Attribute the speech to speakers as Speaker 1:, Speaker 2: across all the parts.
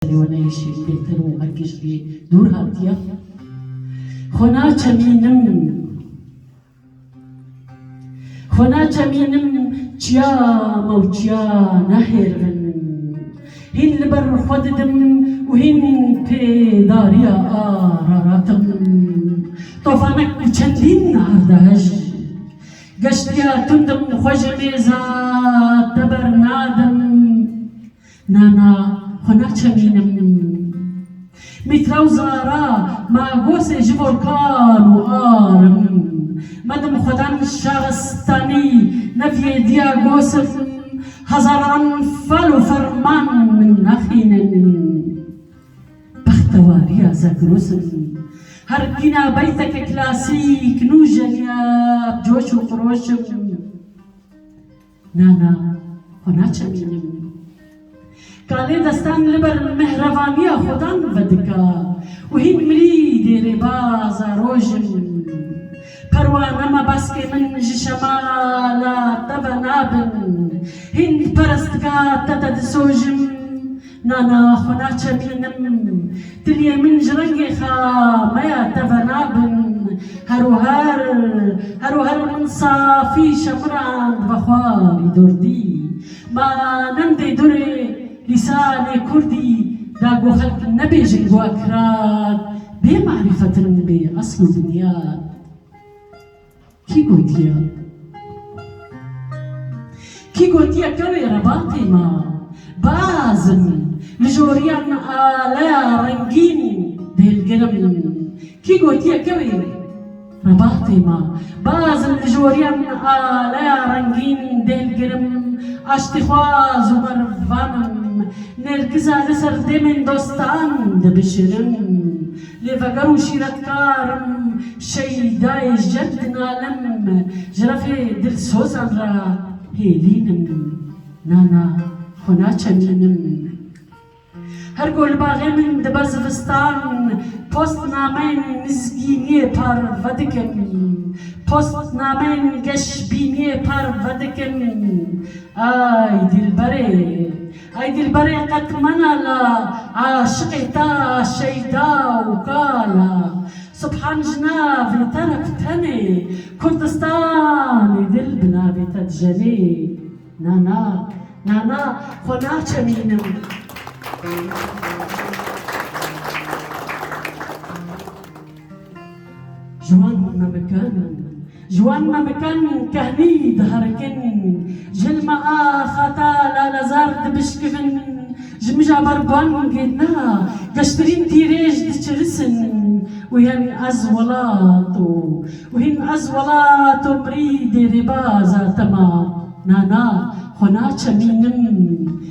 Speaker 1: serê we neyişî bêtir û herkî ji wî dûr hatiye. Xwe naçemînim, xwe naçemînim çiya me û çiya nehêrivin. Hîn li ber xwe didim û hîn tê dariya araratim. Tofanek û çendîn erdehej. Geştiya tundim xwe ji mêza te bernadim. Na na xwe naçemînim. Mîtra û zara ma gosê ji bo kal û ar in. Medim xwedan şaristanî neviyêdiya gosim hezaran fal û ferman min naxînin. Bextewariya Zegros in. Her kîna beyteke klasîk nûjeniya bi coş û xiroş in. Na na, xwe naçemînim. Kalê destan li ber mehrevaniya xwedan vedika û hîn mirî dê rêbaza roj in. Perwane me baskê min ji şemala te ve nabin. Hîn perestga te te disojim Na na xwe naçepînim. Tiliyên min ji rengê xa me ya teve nabin. Her û her, her û her min safî şemirand ve xwarî durdî. Ma nemdê durê lîsanê kurdî da ku xelk nebêjin ku ekirad bê marîfet in bê esl û binyad. Kî gotiye? Kî gotiye kewê rebatê ma? Bazm li joriyan me aleya rengîn dêlgir im. Kî gotiye kewê rebatê ma? Bazm li joriyan me aleya rengîn dêlgir im. Aştîxwaz û merivan im. Nêrkiza li ser demên dostan dibişirim. Lê veger û şîretkar im, Şeydayê jeb dinalim, Ji refê dilsozan re hêlîn im, Na na xwe naçemînim. Her ku li baxê min dibe zivistan, Post nameyên mizgîniyê par vedikim, Post nameyên geşbîniyê par vedikim, Ay dîlberê! Ay dilberê qet mena la aşiqê ta Şeyda û ka la Subhan ji navê te re bi tenê Kurdistanê dil bi navê te dijenê Na na Na na xwe naçemînim Ji wan memikan, ji wan memikan kehnî diherikin, ji hilma ax hata lalezar dibişkivin, ji mija ber bangê na geştirîn tîrêj diçirisin û hên ez welat û hîn ez welat û mirî dê rêbaza te ma, na na xwe naçemînim.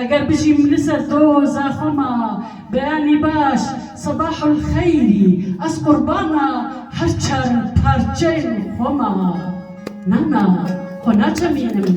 Speaker 1: Eger bijîm li ser doza xwe ma beyanî baş Sebahul xeyrî ez qurbana her çar parçeyên xwe ma na na xwe naçemînim.